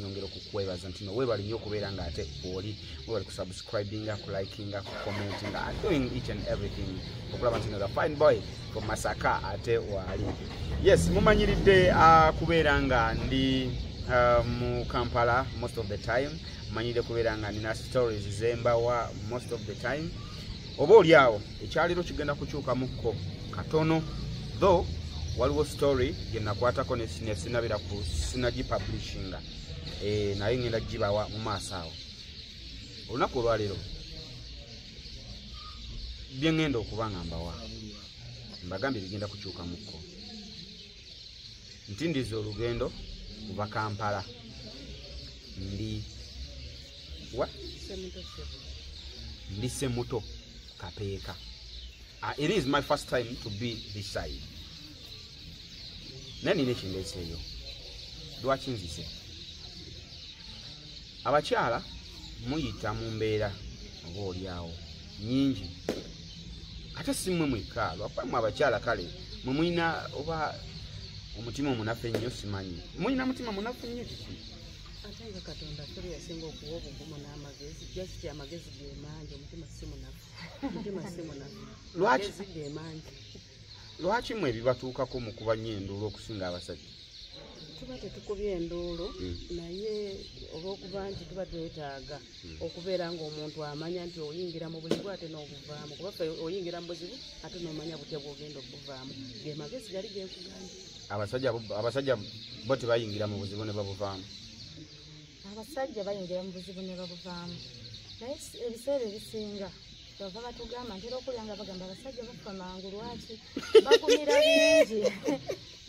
nyongera okukwebaza ntino webali nyo okubeera nga ate oli webali kusubscribinga kulikinga kucommentinga doing each and everything okulaba ntino the fine boy from masaka ate waali yes mumanyiridde uh, kubeera nga ndi uh, mu kampala most of the time manyire kubeera nga nina stories zembawa most of the time oba oli awo ekyaliro kigenda kukyukamukko katono tho waliwo story gyenakwatako nesinabira ku sinagi publishinga eh, naye ngenda gibawa mu maaso awo olunaku olwaleero byengenda okuba nga mbawa mbagambye bigenda kukyukamukko ntindiza olugendo kuva kampala ndi wa ndi semuto kapeeka uh, it is my first time to be this side naye nina ekindeeseeyo lwaki nzise abakyala muyita mu mbeera oba oli awo nyingi ate si mmwe mwekka lwakuba mwe abakyala kale mwe mulina oba omutima omunafu ennyo simanyi mulina mutima munafu nnyo kiki ate nga katonda tuli yasinga okuwa obugumu n'amagezi jasiti amagezi gemangi omutima si munafu omutima si munafu lwaki gemangi lwaki mwe ebibatuukako mu kuba nnyo enduulu okusinga abasajja tuba tetukubye enduulu hmm. naye olwokuba nti tuba twetaaga hmm. okubeera ngaomuntu amanya nti oyingira mu buzibu ate n'obuvaamu kuba fe oyingira mu buzibu ate nomanya butya bwogenda okubuvaamu ge magezi gali genkugambye abasajja bo tebayingira mu buzibu ne babuvaamu abasajja bayingira mu buzibu ne babuvaamu naye ebiseera ebisinga bava batugamba ntera okulya nga bagamba abasajja bafa mangu lwaki bagumira bingi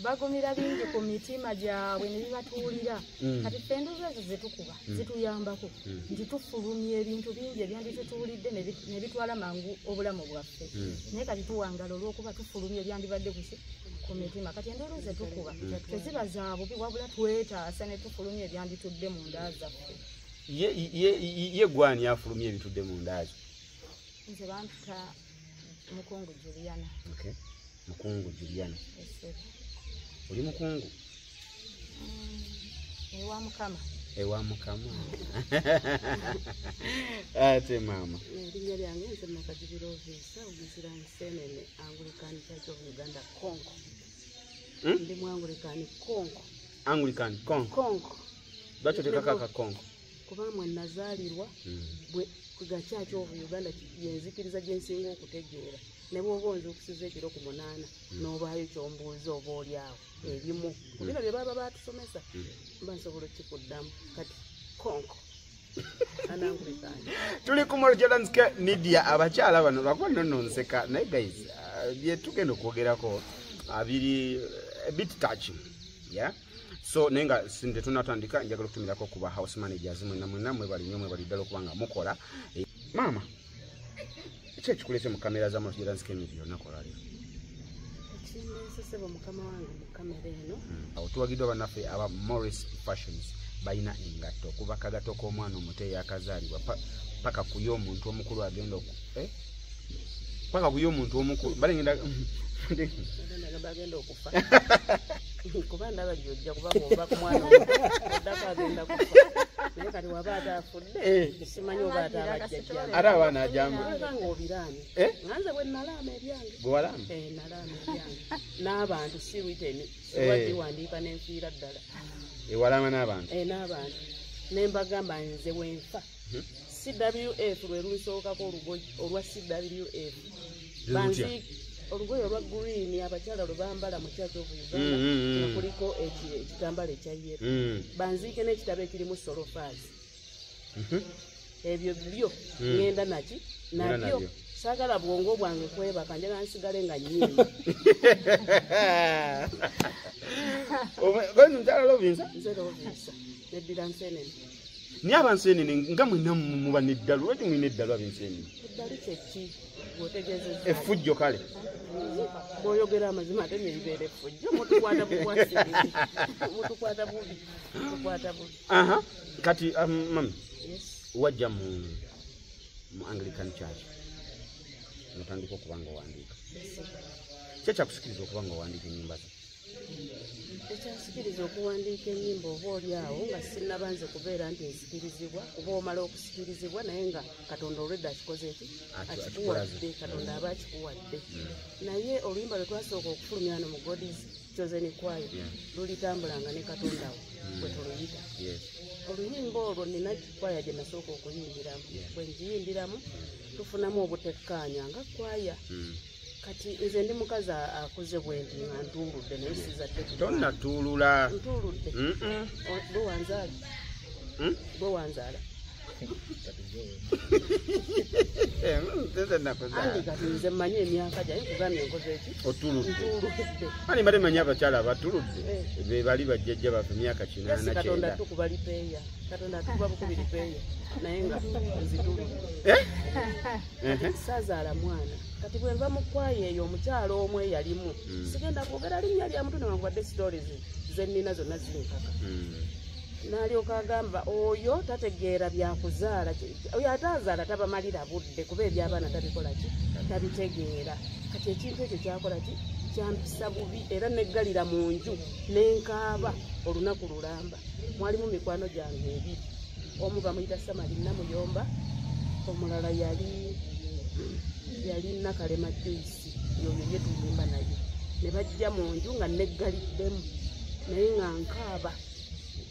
bagumira bingi ku mitima gyabwe ne bibatuwulira mm. kati ffe enduuzo ezo zetukuba mm. zituyambako mm. nti tufulumya ebintu bingi ebyanditutuwulidde ne bitwala mangu obulamu bwaffe naye kati tuwangala olwokuba tufulumya ebyandibadde kuki ku mitima kati enduulu zetukuba teziba zabubi wabula twetaasa ne tufulumya ebyanditudde mu nda zaffe ye ye ye gwani afulumye ebitude mu ndazo nze bantuta mukungu Juliana okay mukungu Juliana yes sir oli mukungu mm, ewa mukama ewa mukama ate maama erinnya lyange nze makajibira oviisa oguzira nsenene anglican church of uganda konko hmm? ndi mu anglican konko anglican konko konko lwaki otekako akakongo kuba mwe nazaalirwa hmm. gakyaki ovu uganda yenzikiriza gyensinga okutegeera ne bwoba onza okusiza ekiro ku munaana hmm. n'obaayo kyombuuza oba oli awo hmm. ebimu kubino bye baba batusomesa mba nsobola okikuddamu kati konko tuli ku molojalansk media abakyala bano bakuba nononseka naye guys uh, byetugenda okwogerako abiri uh, uh, bit touching yeah so naye nga sinde tunatandika njagala okutumirako kuba house managers mwena mwena mwebali nyo mwebali ddala okuba nga mukola eh, maama ki ekikulese mu kamera za masjira nzika emizi yonna kolali hmm, awo tuwagiddwa bannaffe aba morris fashions balina engatto okuva kagato k'omwana omuto eyakazaalibwa paka kuyo omuntu omukulu agenda oku eh? paka kuyo omuntu omukulu balengenda bagenda oku kuba ndaba gyojja kuba ngova ku mwana oddako agenda kufa naye kati waba ate afudde eh. simanyi oba ate abajjajja ate abaana ajanganga obiraani eh? nganze bwe nalaama ebyange gwewalaama eh, nalaama ebyange n'abantu si witeni siwagiwandiika nenfiira ddala ewalaama n'abantu n'abantu ne mbagamba nze wenfa cwf lwe lunsookako olugoye olwa cwf olugoye olwa green abakyala lwe bambala mu church of uganda mm, mm, mm. kuliko ekitambala ekya yero banziike n'ekitabo ekirimu solofazi mhm. ebyo byo ŋenda naki nabyo sagala bwongo bwange kwebaka njala nsigale nga nyimba omukyala lovinsa nze lovinsa neddira nsenene naye abanseenene nga mwena muba neddalu lwaki mulina eddalu abenseenene effujjo kale bwoyogera amazima ate neribeera effujjo mutukwata bubi aha kati um, mami wajja mu mu anglican church notandika okuba nga owandiika kyekyakusikiriza okuba nga owandiika enyumba zo ekyansikiriza okuwandiika enyimba oba oli awo nga sinaba nze kubeera nti nsikirizibwa kuba omala okusikirizibwa naye nga katonda olwedda akikoze eki akikuwadde katonda aba akikuwadde hmm. naye oluyimba lwe twasooka okufulumya no mu godis chosen kwayo lulitambulanga ne katonda we hmm. bwe tuluyita oluyimba olwo nina kwaya gye nasooka okuyimbiramu bwe njiyimbiramu tufunamu obutekkaanya nga kwaya hmm. kati nze ndi mukazi akuze bwendi nga ntuuludde naye sizadde tonnatuulula ntuuludde bwe wanzaala hmm? bwe wanzaala nze mmanyi emyaka gyaye kugambye enkoze eki otuluddeani mbadde manyi abakyala abatuludde eh. be bali bajjajja baffe myaka kinanakatonda tukuba lipeeya katonda tukuba bukubi lipeeya naye nga nzituludde eh? kati saazaala mwana kati bwenva mu kwayo eyo omukyalo omu eyalimu hmm. sigenda kwogera linnya lya mutu newankubadde stories zennina zonna zinkaka hmm. nalyoka agamba oyo tategeera byakuzaala oyo ate azaala tabamalira budde kuba ebyabaana tabikolaki tabitegeera kati ekintu ekyo kyakolaki kyampisa bubi era neggalira mu nju nenkaaba olunaku lulamba mwalimu mikwano gyange ebiri omu bamuyita samali namuyomba omulala yali yali nakalema juisi yoyo ye tuyimba naye ne bajja mu nju nga neggaliddemu naye nga nkaaba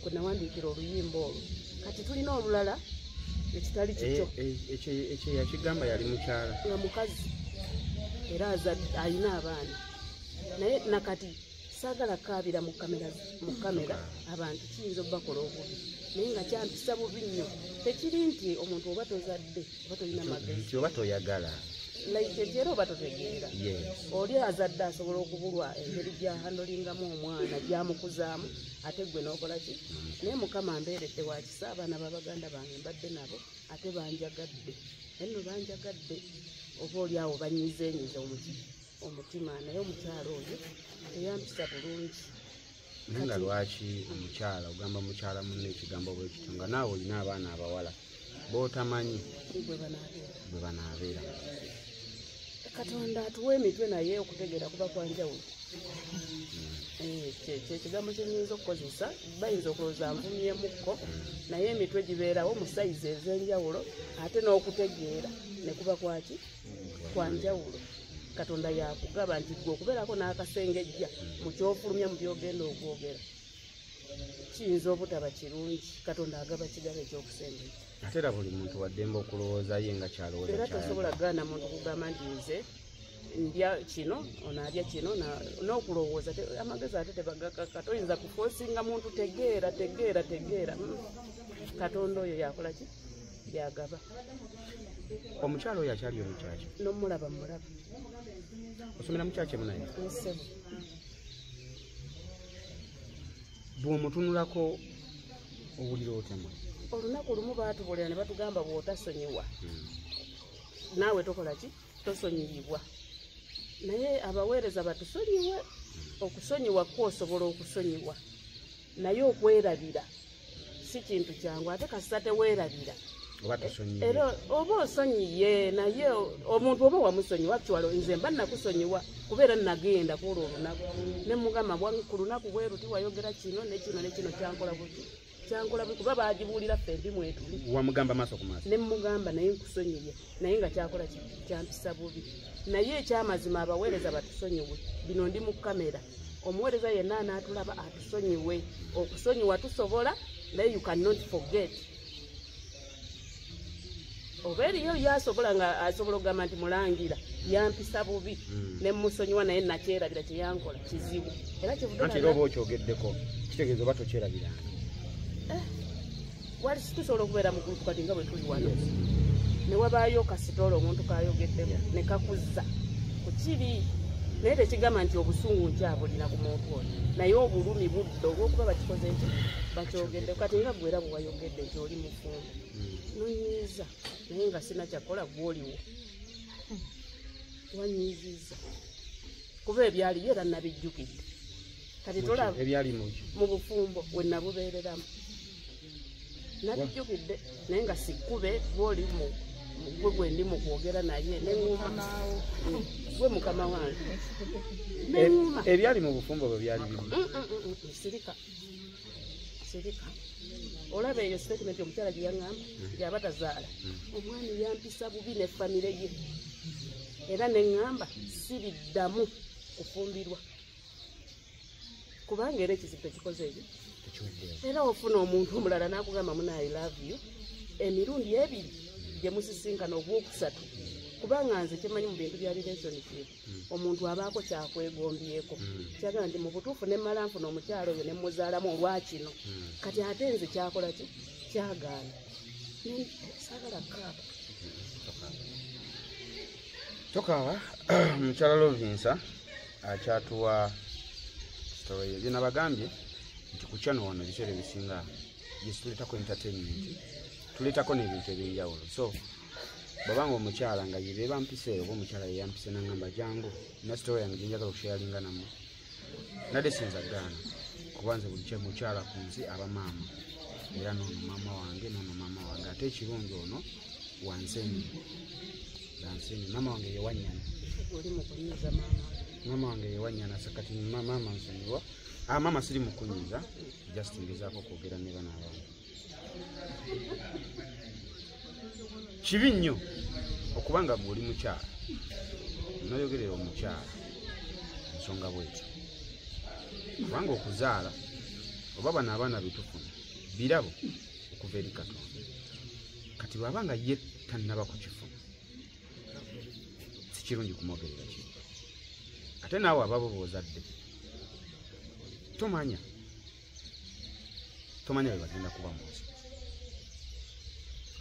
kwe nawandiikira oluyimba olwo kati tulina olulala ekitali kikyo eh, eh, ekyo yakigamba yali mukyala nga mukazi era alina abaana naye nakati saagala kaabira mu kamera mu kamera abantu kiyinza okubakola obubi naye nga kyampisa bubi nnyo tekiri nti omuntu oba tozadde oba tolina magezi nti oba toyagala like ekyera oba totegeera oli azadde asobola okubulwa engeri gyahandolingamu omwana gyamukuzaamu ate gwe nokola ki naye mukama mbeeredde wakisa abaana babaganda bange mbadde nabo ate banjagadde enno banjagadde oba oli awo banyizenyiza omukii omutima naye omukyalo oyo eyampisa bulungi naye nga lwaki omukyala ogamba mukyala munne ekigambo bwekityo nga naawe olina abaana abawala botamanyi bwe banaabeera katonda atuwa emitwe naye okutegeera kuba kwanjawulo hmm. eh, kyekigambo kyenyinza okukozesa bayinza okulowooza nvumyemukko naye emitwe gibeerawo mu sayizi ez'enjawulo ate n'okutegeera ne kuba kwaki kwa njawulo katonda yakugaba nti gwe okubeerako n'akasengejja mu kyofulumya mu byogenda okwogera kiyinza obutaba kirungi katonda agaba kigaba ekyokusembeza ate era buli muntu waddembe okulowooza ye nga kyalowooza era tosobola kugana muntu kugamba nti nze ndya kino onaalya kino n'okulowooza amagezi ate tebagakaka toyinza kufosinga muntu tegeera tegeera tegeera hmm. katonda oyo yakola ki yagaba omukyalo oyo akyali omukyaki nomulaba mulaba osomera mukyaki emunaye nsebo bwomutunulako owulira otemwe olunaku lumu batubulira ne batugamba bwotasonyiwa hmm. naawe tokola ki tosonyiyibwa naye abaweereza batusonyiwe okusonyiwa kwosobola okusonyiwa naye okwerabira si kintu kyangu ate kasita teweerabira era oba osonyiye naye omuntu oba wamusonyiwa actual nze mba nakusonyiwa kubeera nagenda kuolwo olunaku nemugamba ku lunaku bweruti wayogera kino nekino nekino kyankola buti kyankola buti kuba bagibuulira ffe ndi mwetuli wamugamba maaso ku maaso nemugamba naye nkusonyiye naye nga kyakola kyampisa bubi naye ekyamazima abaweereza batusonyiwe bino ndi mu kamera omuweereza yenna anaatulaba atusonyiwe okusonyiwa tusobola naye you cannot forget oba eriyo yasobola nga asobola okugamba nti mulangira yampisa bubi hmm. ne musonyiwa naye nakyerabira kyeyankola kizibu era kivuanti era oba okyogeddeko kitegeeza oba tokyerabiranga eh. wali situsobola okubeera mu gulupu kati nga bwe tuli wano ne wabaayo kasitoola omuntu kayogeddemu ne kakuzza ku kiri naye tekigamba nti obusungu nkyabulina ku muntu oyo naye obulumi budde olwokuba bakikoze nti bakyogedde kati nga gwera bwewayogedde nti oli mufumbo hmm. nonyiiza naye nga sina kyakola gwoliwo wanyiiziza kuba ebyaliyo era nabijjukidde kati tolaba ebyali mukyo mu bufumbo we nabubeereramu nabijjukidde naye nga sikkube gwoli mu gwe gwe ndi mu kwogera naye neŋuma gwe mukama wange neŋuma e, ebyali mu bufumbo bwe byali bimu mm, mm, mm, sirika sirika olaba eyo sitatimenti omukyala gye yaŋamba yaba tazaala omwami yampisa bubi ne famire ye era neŋamba siriddamu kufumbirwa kubanga era ekizibu ekikoze ebyo era ofuna omuntu omulala nakugamba muna i love you emirundi ebiri gyemusisinkana ogwokusatu kubanga nze kyemanyi mu bintu bya relationship hmm. omuntu abaako kyakwegombyeko hmm. kyaga nti mu butuufu nemmala nfuna omukyalo oyo nemuzaalamu olwakino hmm. kati ate nze kyakola ki kyagaana sagala kaaba tokaaba mukyala lovinsa akyatuwa sitory ye byona bagambye nti ku channel wano ebiseera ebisinga yesituletako entertainment tuletako n'ebintu ebyenjawulo so babanga omukyala nga yebeba mpiseeyo oba omukyala yeyampise nangamba jangu nasitory yange gyenjagala okushayalinga namwe nade sinza gaana kuba nze buli kyemukyala ku nsi aba maama era noono maama wange noono maama wange ate ekirungi ono wanseni wanseni maama wange yewanyana maama wange yewanyana sakati maama nsonyiwa ah, maama siri mukunyiza just ngezaako okwogera ne bana abantu kibi nnyo okuba nga gwe oli mukyala noyogerera omukyala ensonga bwetyo kubanga okuzaala oba bano abaana betufuna birabo okuva eri katonda kati bwaba nga ye tannaba kukifuna sikirungi kumwogerera ki ate naawe ababo boozadde tomanya tomanya bwe bagenda kuba mu nsi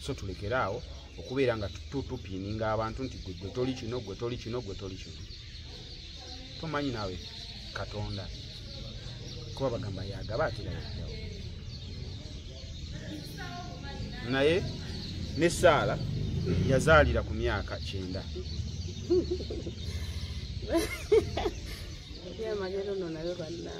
so tulekere awo okubeera nga tutupiininga abantu nti gwe gwe toli kino gwe toli kino gwe toli kino tomanyi naawe katonda kuba bagamba yagaba atera yajawo naye ne saala yazaalira ku myaka kyenda yamagero no nayo banna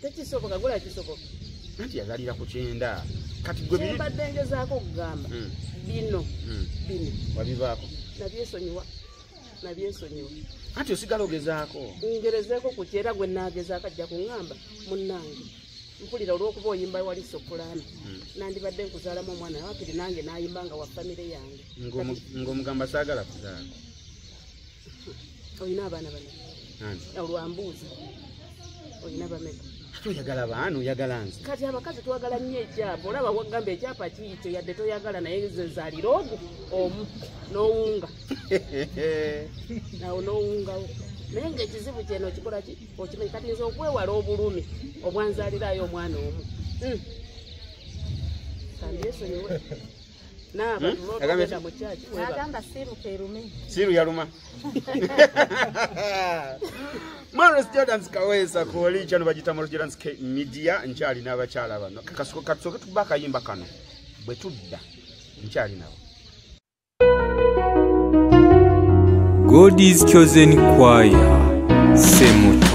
tekisoboka gula kisoboka anti yazalira ku kyenda kati gwe biri mbadde ngezaako okugamba hmm. bino hmm. bino wabivaako nabyesonyiwa nabyesonyiwa anti osigala ogezaako ngerezeeko ku kyera gwe naagezaako ajja kuŋŋamba munnange mpulira olw'okuba oyimba wali sopulaano hmm. nandibadde nkuzaalamu omwana wakiri nange nayimba nga wa famire yange ng'omugamba saagala kuzaala olina abaana bana olwambuuzi olina bameka toyagala baana oyagala nze kati abakazi twagala nnyo ekyapa olaba wagamba ekyapa kiikyo yadde toyagala naye nze nzalira ogu omu nowunga nawo nowungawo naye ngaekizibu kyeno okikola ki okimanyi kati nze okwewala obulumi obwanzalirayo omwana omu hmm. kandyesonyiwe siru yaluma mares jordans kawesa koli kyano bagita mares jordans ke media nkyali n'abakyala bano kakasuko katusoke tuba akayimba kano bwe tudda nkyali nabo god is chosen choir semuto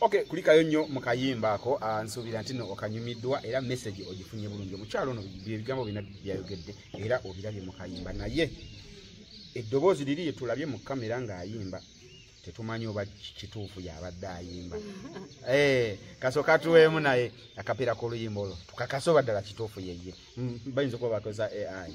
Okay, kulikayo nnyo mu kayimba ako ah, nsuubira nti no okanyumiddwa era message ogifunye bulungi omukyalo ono byebigambo bina byayogedde era obirabye mu kayimba naye eddoboozi liri lyetulabye mu kamera ng'ayimba tetumanyi oba kituufu yabadde ayimba eh, kasoka tuweemu naye akapiira k'oluyimba olwo tukakase oba ddala kituufu yeye mm, bayinza okuba bakoza ai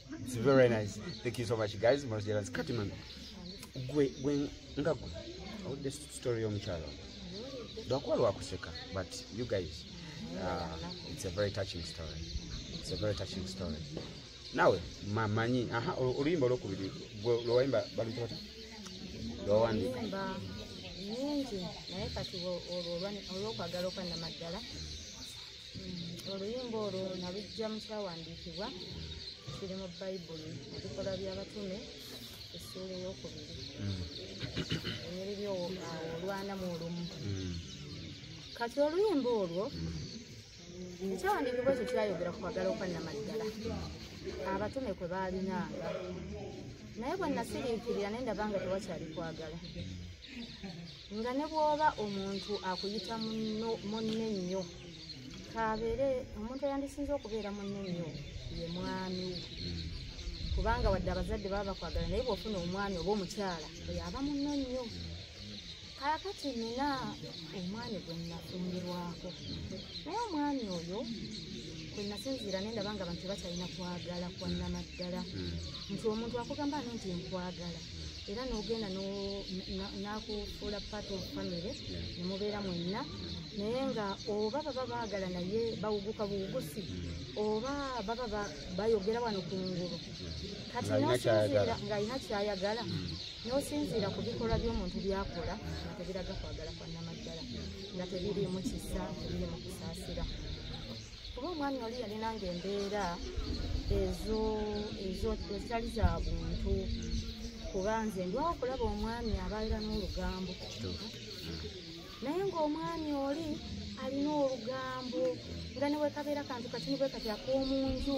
It's very nice. Thank you so much guys. Mwana jela zikati man. Gwe gwe nga gwe. All the story of Mchalo. Do kwa lwa kuseka but you guys uh, it's a very touching story. It's a very touching story. Nawe mamanyi aha oluyimba lwo kubiri gwe lwo waimba bali tota. Lwo wandi. Oluyimba nyingi naye kati olwo olwo kwa galo kwa na madala. mm, oluyimba olwo nalujja mu kyawandiikibwa kiri mu bayibuli ebikola by'abatume essuula eyokubiri mm. enyiriri olwana mu olumu mm. kati oluyimba olwo ekyawandiikibwa ekyo kyayogera ku kwagala okwannamaddala abatume kwe baalinanga naye bwe nasiriikirira naye ndaba nga tewakyali kwagala nga ne bw'oba omuntu akuyita munne nnyo kaabeere omuntu eyandisinza okubeera munne nnyo ye mwami kubanga wadde abazadde baba bakwagala naye bw'ofuna omwami oba omukyala oyo aba munne nnyo kaakati nina omwami gwe nnafumbirwako naye omwami oyo kwe nasinziira ne ndaba nga abantu tebakyalina kwagala kwa namaddala hmm. nti omuntu akugamba ano nti nkwagala era nogenda nakufuula part of family nemubeera mwenna naye nga oba baba baagala naye bawuguka buwugusi oba baba bayogera wano ku ngulu kati nosinziira ng'alina kyayagala nosinziira ku bikolwa by'omuntu byakola nga tebiraga kwagala kwa namaddala nga tebiriimu kisa tebiriimu kusaasira kuba omwana oli yalinanga embeera ezo ezo ezitali za buntu kuba nze ndwawo okulaba omwami abaira n'olugambo naye ng'omwami oli alina olugambo nga newekabeera kantu kati nibwe kati ak'omu nju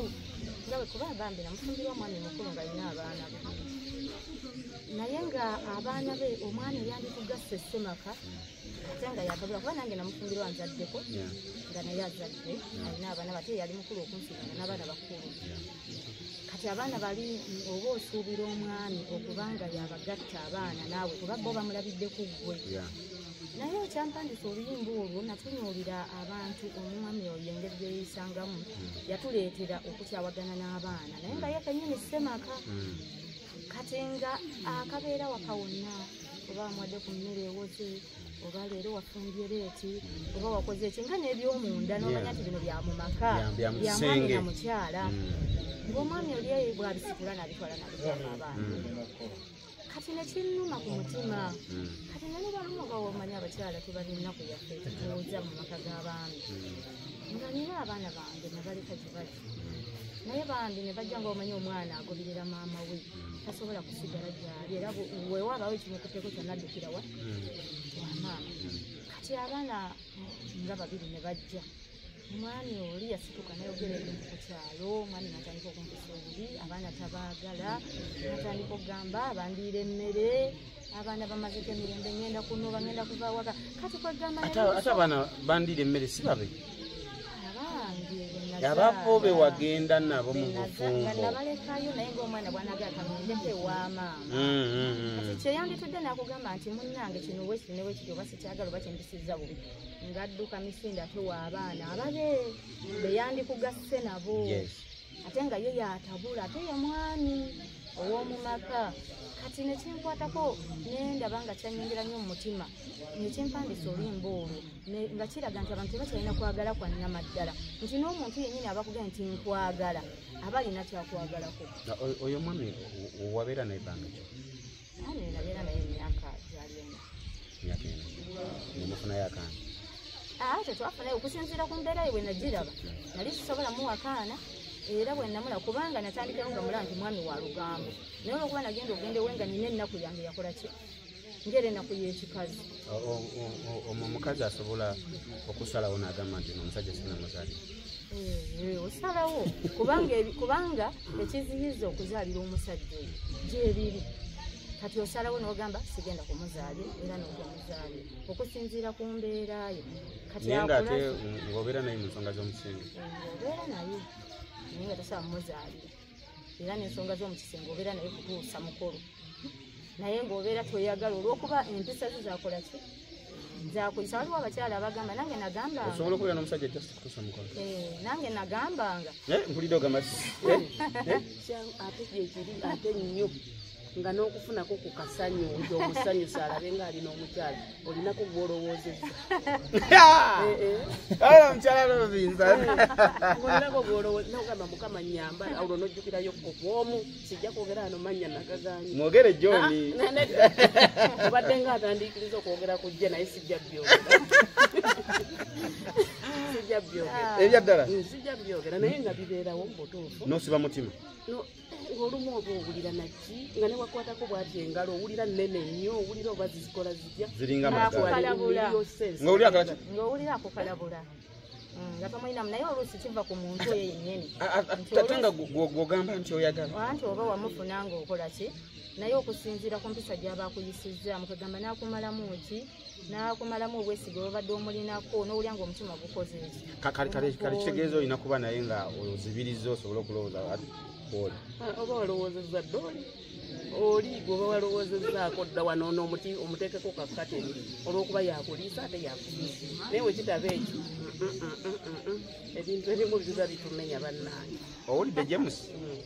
nga wekuba bambi namufumbirwa omwami mukulu nga alina abaana be naye nga abaana be omwami yandikugasse semaka ate nga yakabula kuba nange namufumbirwa nzaddeko nga naye azadde alina abaana bate yali mukulu okunsinga n'abaana bakulu kati abaana bali oba osuubira omwami okubanga yabagatta abaana naawe kuba bo bamulabidde ku ggwe naye ekyampandisa oluyimba olwo natunuulira abantu omwami oyo engeri gyeyisangamu hmm. yatuleetera okukyawagana n'abaana naye nga ye kenyini semaka hmm. kati nga akabeera wakawonna oba amwadde ku mmere ewoze oba leero wafumbye leeti oba wakoze eki nga n'ebyomunda n'omanya nti bino bya mu maka bya mwami na mukyala mm. ng'omwami oli eyo bwabisikula nabitwala nabitwala abantu mm. kati nekinuma ku mutima hmm. kati nali baluma bawomanya abakyala tebalina kuyaffe tutuuza mu maka g'abaami hmm. nga nina abaana bange nabaleka gibali naye bambi ne bajja nga omanyi omwana agoberera maama we tasobola kusigala gyali era wewaabawo ekimukuteko kyonna addukirawa wamaama kati abaana nga babiri ne bajja omwami oli yasituka nayogera ebintu ku kyalo omwami natandika okumpusa obubi abaana tabaagala natandika okugamba bandiira emmere abaana bamaze ge mirembe ngenda kunoba ngenda kuva waka kati kwegamba ate abaana bandira emmere si babe abafo be wagenda nabo mu bufumbo nabalekayo naye ngaomwana bwanaga akanondeko ewamaama mm, mm, mm. kati kyeyanditudde nakugamba nti munange kino wekiri ne wekiri oba sikyagala oba kyendisiza bubi ngadduka misinde ate waabaana ababe beyandikugasse nabo ate nga ye yatabula ate ye mwami ow'omu maka kati nekinkwatako nendaba nga kyanyongera nnyo mu mutima nekimpandisa oluyimba olwo nga kiraga nti abantu tebakyalina kwagala kwa nnamaddala nti n'omuntu yennyini abakuga nti nkwagala aba alina kyakwagalako oyo mwami owabeera naye banga kyo tetwafunayo okusinziira ku mbeera ye bwe nagiraba nali sisobola muwakaana era bwe namula kubanga natandikayo nga mula nti mwami wa lugambo naye olwokuba nagenda ogenda ewe nga nina ennaku yange yakola ki ngaera ennaku y'ekikazi omwo omukazi asobola okusalawo nagamba nti no omusajja sina muzali eh, osalawo kubanga ekiziyiza okuzalira omusajja oyo gyebiri kati osalawo nogamba sigenda kumuzaali era nogamuzaali okusinziira ku mbeerayo naye nga ate ngobeera naye mu nsonga z'omusingi eh, obeera naye naye nga tosobola mumuzaalira era n'ensonga z'omu kisenge obeera naye kutuusa mukulu naye ng'obeera toyagala olw'okuba empisa zo zakola ki zakuyisa waliwo abakyala abagamba nange nagambaosobola okubeera n'omusajja just kutuusa mukulu eh, nange nagambanga eh, mpulidde ogamba eh, ate gyekiri ate nnyo nga n'okufunako ku kasanyu nti omusanyusa alabe ng'ali n'omukyala olinako gw'olowoozezza omukyala lozinzaolinako gw'olowooze nogamba mukama nyamba olwo n'ojjukirayo kobwomu sijja kwogera ano mannya nagaganyi mwogere joni ah, obadde nga atandiikiriza okwogera ku jje naye sijja byogera sijja byogera ebyaddala sijja byogera naye nga bibeerawo mu butuufu nosiba mutima olumu oba owulira naki nga newakwatako bwati engalo owulira nene nnyo owulira oba zizikola zija ziringa magalabula nga owulira akukalabula Mm, nga tomulinamu naye oluusi kiva ku muntu oyo yennyini ate nga gwogamba nti oyagala anti oba wamufuna nga okola ki naye okusinziira ku mpisa gyaba akuyisizzaamu kwegamba n'akumalamu ki nakumalamu obwesige obabadde omulinako nowulya nga omutima gukozeekitegeeza olina kuba naye nga ozibiriza osobola okulowooza oli ah, oba walowoozeza dda oli oli gwoba walowoozezaako dda wano nomuti omuteekeko kakateri olwokuba yakuliisa ate yakuliisa naye wekitaba ekyo ebintu ebimu biza bitumenya bannange owulidde james mm.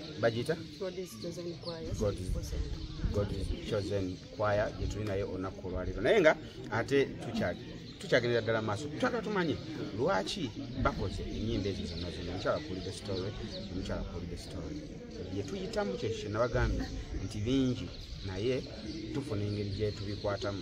bagiyita chosen choir gyetuli naye olunaku olwaleero naye nga ate tukyagendera ddala maaso twagala tumanye lwaki bakoze enyimba ezo zonna zonna omukyala kuulide story omukyala kuulide story yetuyitamu kyekyo kyenabagambye nti bingi naye tufuna engeri gyetubikwatamu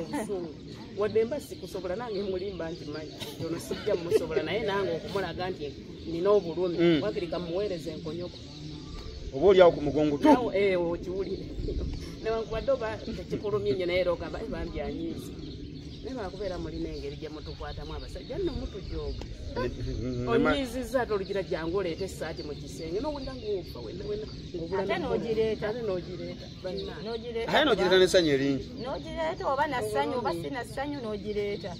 obusungu wadde mba sikusobola nange mulimba nti manyi ono sijja musobola naye nange okumulaga nti nina obulumi mm. wakiri kamuweereza enkonyoko oba oliawo ku mugongo tu eh, okiwulire newankubadde oba tekikulumye nyo naye era ogamba eh, bambi anyiizi naye lwakubeera mulina engeri gye mutukwatamu abasajja nno mutujooga onyiizizza ate olugira jangu oleeta essaati mu kisenge nowulira ngaofa wenna wenna ngaobulamu ate nogireeta aye nogireeta nesanyu eringi nogireeta oba nasanyu oba sinasanyu nogireeta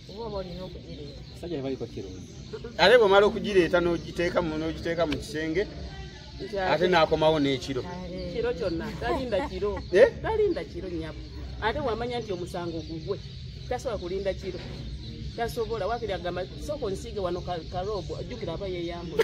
oba oba olina okugireeta sajja nebaliko kirungi ate bwemala okugireeta nogiteeka nogiteeka mu kisenge ate nakomawo n'ekiro kiro kyonna talinda kiro eh? talinda kiro nyabo ate wamanya nti omusango gugwe tasobola kulinda kiro tasobola wakiri agamba sooka onsiige wano karoobo ajjukira aba yeyambula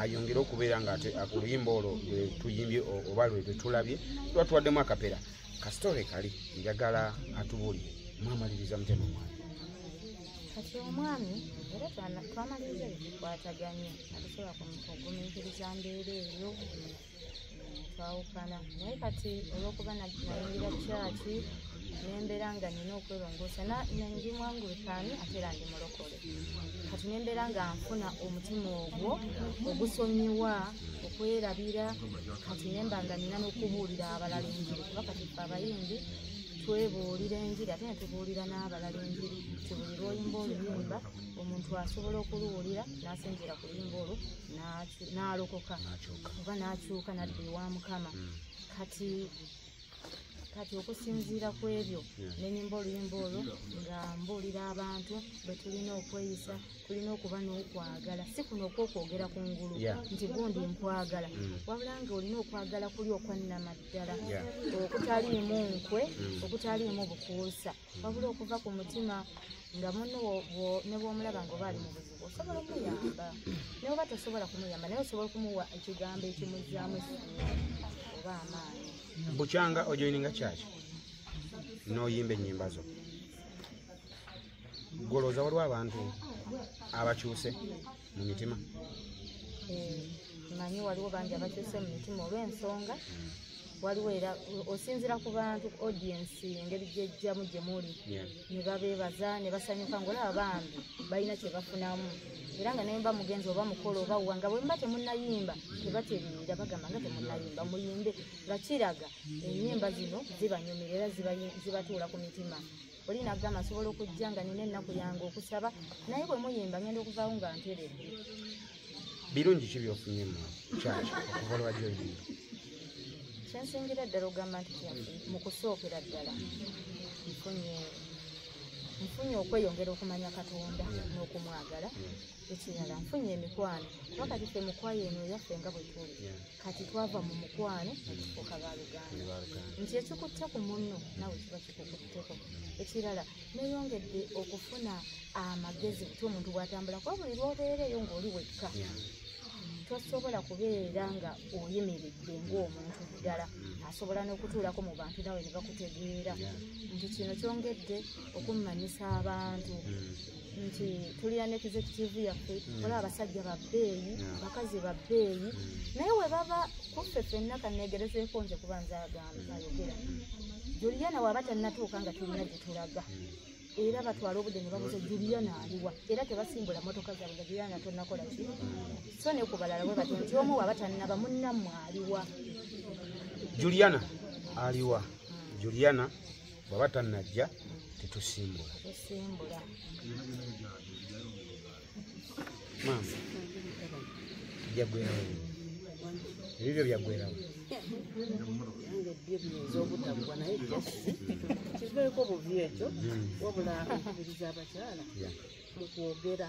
ayongere okubeera nga ate oluyimba olwo lwetuyimbye oba lwetwetulabye tuba tuwaddemu akapera kasitore kali njagala atubuulire mwamaliriza mutema mwana kati omwami era twamaliriza ebikwataganya atusobola kugumiikiriza mbeera eyo twawukana naye kati olwokuba nayingira kyaki nembeera nga nina okwelongoosa ndi mwangulikaani ate era ndi mulokole kati nembeera nga nfuna omutima ogwo ogusonyiwa okwerabira kati nemba nga nina n'okubuulira abalala enjiri kuba kati fe abayimbi twebuulira enjiri ate netubuulira n'abalala enjiri tibuli lwoyimba oluyimba omuntu asobola okuluwulira n'asinziira ku luyimba olwo n'alokoka oba n'akyuka nadda ewa mukama hmm. kati kati okusinziira ku ebyo nenyimba oluyimba olwo nga mbuulira abantu bwe tulina okweyisa tulina okuba n'okwagala si kuno okwokwogera ku ngulu nti gundi nkwagala hmm. wabula nga olina okwagala kuli okwannamaddala okutaliimu nkwe hmm. okutaliimu bukuusa mm. wabula okuva ku mutima nga muno ne bwomulaba nga oba ali mu buzibu osobola okumuyamba naye oba tosobola kumuyamba naye osobola okumuwa ekigambo ekimuzaamu esuubi oba amaanyi bukyanga ojoininga kyaki noyimba enyimba zo golooza waliwo abantu abakyuse mu mitima eh, manyi waliwo bangi abakyuse mu mitima olw'ensonga mm. waliwo era osinzira ku bantu audiensi engeri gyejjamu gye muli ne babeebaza ne basanyuka ngaolaba bambi balina kye bafunamu era nga nemba mugenzi oba mukolo oba wa nga bwemba temunayimba tebatereera bagamba nga temunayimba muyimbe nga kiraga enyimba zino zibanyumira era zibatuula ku mitima oli nagamba nsobola okujja nga nina ennaku yange okusaba naye bwe muyimba ngenda okuvaawo nga nteredde birungi ki byofunye mu kyaki okuva olwajja oyimba kyensingira ddala ogamba nti mu kusookera ddala nfunye nfunye okweyongera okumanya katonda n'okumwagala ekirala nfunye emikwano kuba kati fe mukwayo eno yaffe nga bwe tuli kati twava mu mukwano okufuuka baluganda nti ekikutte ku munno nawe kiba kikukutteko ekirala neyongedde okufuna amagezi kuty omuntu bwatambula kuba buli lwobeereeyo ngaoli wekka tosobola kubeera nga oyimiridde ngaomuntu ddala asobola n'okutuulako mu bantu nawe ne bakutegeera nti kino kyongedde okummanyisa abantu nti tulina ne executive yaffe mm. olaba abasajja babbeeyi abakazi babbeeyi mm. naye webaba kuffe fenna kanegerezeeko nze kuba nze agambaaogera juliana waba tannatuuka nga tulina gye tulaga mm. era batwala obudde ne babuza juliana aliwa era tebasimbula motoka zaabwe nga juliana tonakola ki so ne ku balala bwe batyo nti omu waba tannaba munnammwe aliwa juliana aliwa juliana bwaba tanajja tetusimbula maama jagwerawo ebibyo byagwerawo kiveeko buvi ekyo wabula okubiriza abakyala mukwogera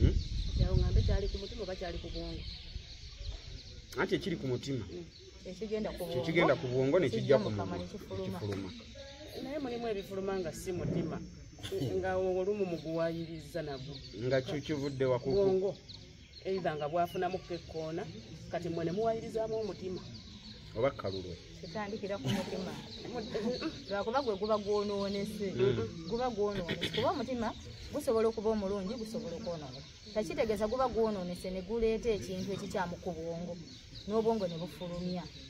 Hmm? kyawo ngambe kyali ku mutima oba kyali ku bwongo anti ekiri ku mutima hmm. kyekigenda ku bwongo nekijja ku mumwa nekifuluma naye mulimu ebifuluma nga si mutima nga olumu muguwayiriza nagwo nga kyokivudde wakuku eitha nga bwafunamu kekkoona kati mwe ne muwayirizaamu omutima oba kalulwe tutandikira ku mutima lwakuba gwe guba gwonoonese guba gwonoonese kuba omutima gusobola okuba omulungi gusobola okwonoona takitegeeza guba gwonoonese ne guleeta ekintu ekikyamu ku bwongo n'obwongo ne bufulumya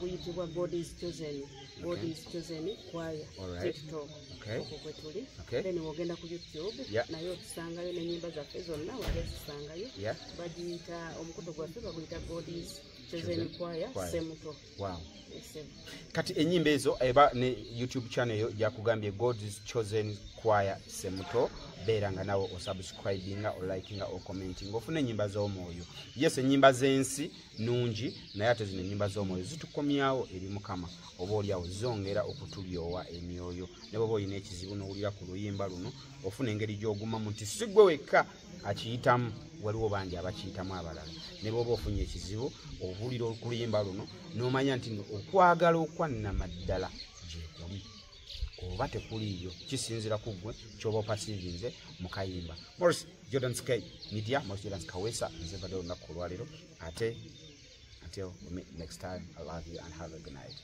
guyitibwa god is chosen god is chosen kwaya tiktok okwo kwe tuli then wogenda ku youtube naye otusangayo nenyimba zaffe zonna wali ozisangayo bagiyita omukuto gwaffe baguyita god is chosen kwaya semuto kati enyimba ezo eba ne youtube channel eyo gyakugambye god is chosen kwaya semuto beera nga nawe osubscribinga olikinga ocomentinga ofuna enyimba z'omwoyo yes enyimba z'ensi nungi naye ate zino enyumba z'omwoyo zitukomyawo eri mukama oba olyawo zongera okutulyowa emyoyo ne bwoba olina ekizibu n'owulira ku luyimba luno ofuna engeri gy'ogumamu nti si gwe wekka akiyitamu waliwo bangi abakiyitamu abalala ne bwoba ofunye ekizibu owulira okuluyimba luno n'omanya nti okwagala okwannamaddala gyekuli oba tekuliiyo kisinzira ku ggwe kyoba opasivinze mu kayimba moris jordan sky media moris jordan kawesa nzevadde olunaku olwaleero ate until we meet next time i love you and have a good night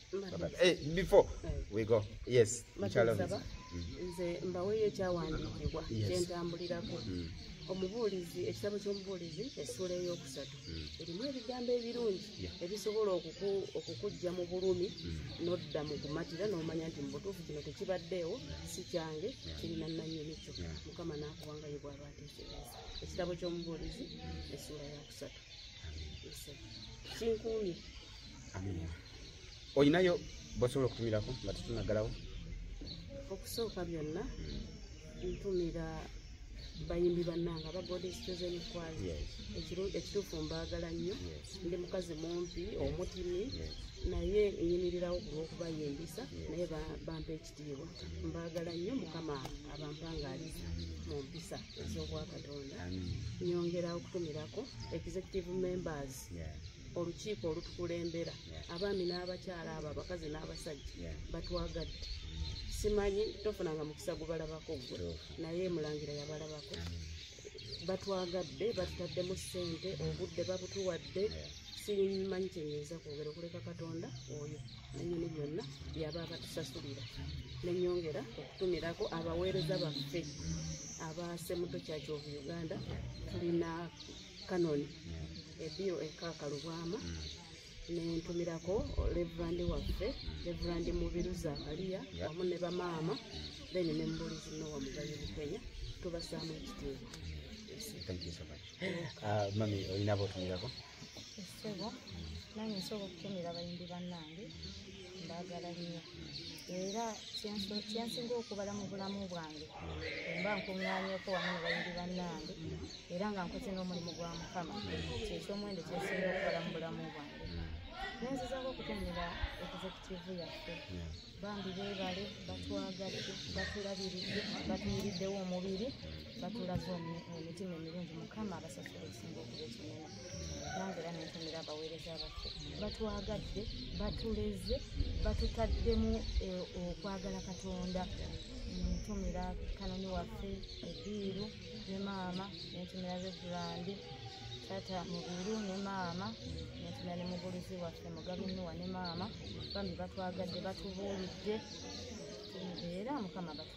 hey, eh, before we go yes nkyalonza mm-hmm. nze mbaweeyo ekyawandiikibwa kyentambulirako mm. omubuulizi ekitabo ky'omubuulizi essuula ey'okusatu mm. erimu ebigambo ebirungi ebisobola okukujja mu bulumi mm. nodda mu kumatira n'omanya nti mu butuufu kino tekibaddeewo si kyange kirina nnannyini kyo mukama n'akuwangayo bwaba ateekereza ekitabo ky'omubuulizi mm. essuula ya kusatu kinkuumye olinayo bosobola okutumirako nga tetunaggalawo okusooka byonna ntumira bayimbi bannanga aba goddess chosen choir Yes. Ekiru- ekituufu mbaagala nnyo Yes. ndi mukazi mumpi omutini Yes. naye nyimirirawo ku lw'okubayimbisa naye ba- bampa ekitiibwa mbaagala nnyo mukama abampangaaliza mu mpisa ez'obwakatonda Amen. nyongera okutumirako executive members Yeah. olukiiko olutukulembera abaami n'abakyala abo abakazi n'abasajja batwagadde simanyi tofunanga mukisa gubalabako gwe naye mulangira yabalabako batwagadde batutaddemu ssente obudde babutuwadde simanyi kyenyinza kwogera okuleka katonda oyo nanyini byonna byaba abatusasulira nenyongera okutumirako abaweereza baffe abasemuto kyakyovu uganda tulina kanoni ebiyo ekaka lubwama nentumirako reverandi waffe reverandi mubiru zakaliya wamu ne bamaama then ne mubulizi nowa mugayi bukenya tubasaamu ekitiibwa Thank you so much. Uh, mami olina botumirako? Esebo nange nsobola okutumira abayimbi bannange mbagala nnyo era kyensinga okubala mu bulamu bwange emba nkuŋŋanyeko wamu ne bayiri bannange era nga nkoze n'omulimu gwa mukama kyekyomuwendo kyensinga okubala mu bulamu bwange nenzizako okutonera ekizekitivu yaffe bambi bebale batwagadde batulabiridde batuyiriddewo omubiri batulaze emitima emirungi mukama abasasula okusinga okuba ekinene nange era nentumira abaweereza baffe batwagadde batuleze batutaddemu eh, okwagala katonda ntumira kanoni waffe ediiru ne maama nentumira revulandi tata mubiru ne maama nentumira ne mubulizi waffe mugabe nuwa ne maama bambi batwagadde batubuulidde era mukama batu